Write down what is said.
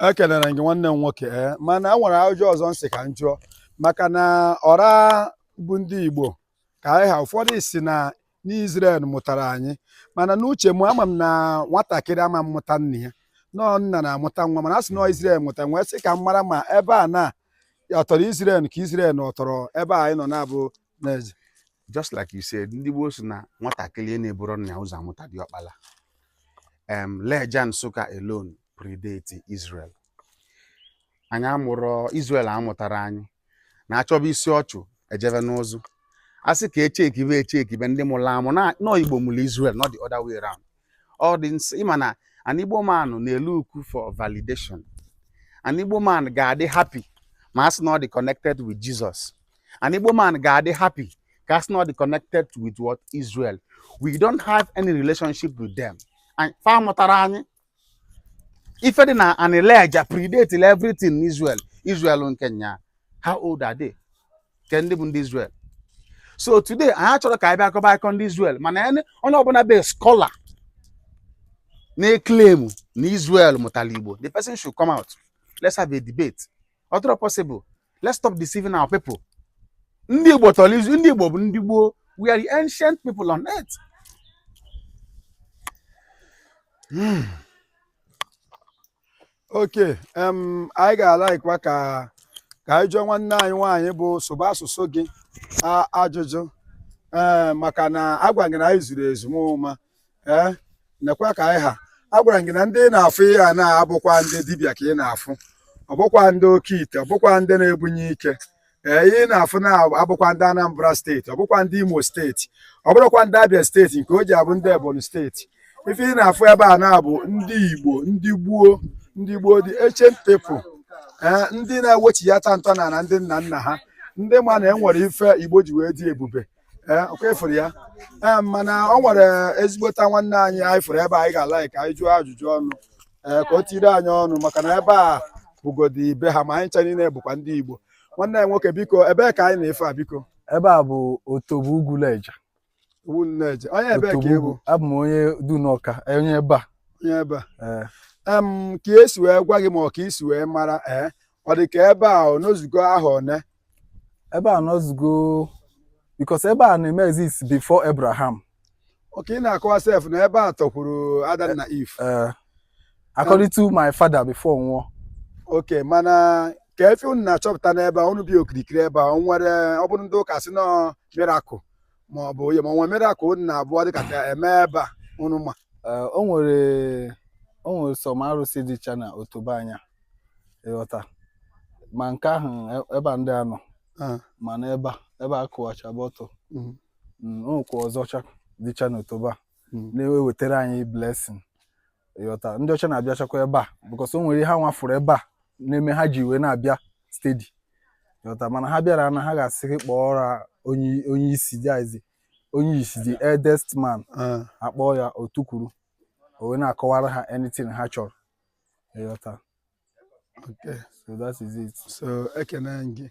ekelere gị nwanne m nwoke ee eh, mana a nwere ajụjụ ọzọ m sị ka m jụọ maka na ọra bụ ndị Igbo ka anyị ha ụfọdụ sị na n'Izrel mụtara anyị mana n'uche m ama m na nwatakịrị ama mụta nna ya na ọ nna na-amụta nwa mana a sị na Izrel mụta m wee sị ka m mara ma ebe a na ọ tọrọ Izrel ka Izrel na ọ tọrọ ebe anyị nọ na-abụ just like you said ndị gboo sị na nwatakịrị na-eburọ nna ya ụzọ amụta diọkpala um, Leja Nsụka alone predate Israel anyị amụrọ Israel amụtarọ anyị na a chọba isi ọchụ e jebe n'ụzụ a sị ka e chekibe e chekibe ndị mụrụ amụ na ọ Igbo mụrụ Israel not the other way around all this ị ma na an Igbo man na-elook for validation an Igbo man ga-adị happy ma a sị na ọ dị connected with Jesus an Igbo man ga-adị happy ka a sị na ọ dị connected with what Israel we don't have any relationship with them fa amụtarọ anyị ife dị na ana Leja predate everything n'Israel Israel nke nya how old are they ke ndị bụ ndị Israel so today anyị achọrọ ka anyị bịa akọba akụkọ ndị Israel mana onye ọbụla bụ scholar na-eclaim na Israel mụtara Igbo the person should come out let's have a debate ọ dịrọ possible let's stop deceiving our people ndị Igbo tọrọ Israel ndị Igbo bụ ndị gboo we are the ancient people on earth hmm. okay anyị ga-alaikwa ka ka anyị jụọ nwanne anyị nwaanyị bụ Sụba Asụsụ Gị ajụjụ ee maka na agwa gị na anyị zuru ezu ma ee nekwa ka anyị ha agwara gị na ndị ị na-afụ ihe a na-abụkwa ndị dibịa ka ị na-afụ ọ bụkwa ndị oke ite ọ bụkwa ndị na-ebunye ike ee ihe ị na-afụ na-abụkwa ndị Anambra steeti ọ bụkwa ndị Imo steeti ọ bụrụkwa ndị Abia steeti nke o ji abụ ndị Ebonyi steeti ife ị na-afụ ebe a na-abụ ndị Igbo ndị gboo ndị gboo the ancient people ee ndị na-ewechighata ntọnana ndị nna nna ha ndị ma na e nwere ife Igbo ji wee dị ebube ee ọ kwa ị fụrụ ya ee mana o nwere ezigbota nwanne anyị anyị fụrụ ebe a anyị ga-alaik ka anyị jụọ ajụjụ ọnụ ee ka o tiri anyị ọnụ maka na ebe a bụgodi be ha ma anyị ncha niile bụkwa ndị Igbo nwanne anyị nwoke biko ebee ka anyị nọ ife a biko ebe a bụ Otobo Ugwu Leja Ugwu Leja onye ebee ka ị bụ abụ m onye Dunọka onye ebe a onye ebe a ka e si wee gwa gị ma ọ ka i si wee mara ee ọ dị ka ebe a ọ nọzugo ahọ one ebe a nọzugo because ebe a na-eme exist before Abraham okay ị na-akọwa sef na ebe a tọkwuru Adam na Eve eh, according to my father before ọ nwụọ okay mana kee ife unu na-achọpụta n'ebe a unu bi okirikiri ebe a o nwere ọ bụrụ ndị ụka sị na ọ miracle ma ọ bụ onye ma o nwere miracle unu na-abụọ dịka ka eme ebe a unu ma Eh, o nwere o nwere some arụsị dịcha na otobo anyị a ịghọta ma nke ahụ e- ebe a ndị a nọ Ah, mana ebe a ebe a kụwacha but mm, nwekwa ọzọcha dịcha n'otobo a mm. na-ewetara anyị blessing ịghọta ndị ọcha na-abịachakwa ebe a because o nwere ihe ha nwa fụrụ ebe a na-eme ha ji wee na-abịa steady ịghọta mana ha bịara na ha ga-asị gị kpọọrọ ha onye onye isi dizi onye isi the eldest man Ah, a kpọọ ya o tukwuru o wee na-akọwara ha anything ha chọrọ ịghọta Okay. so that is it So, ekene gị.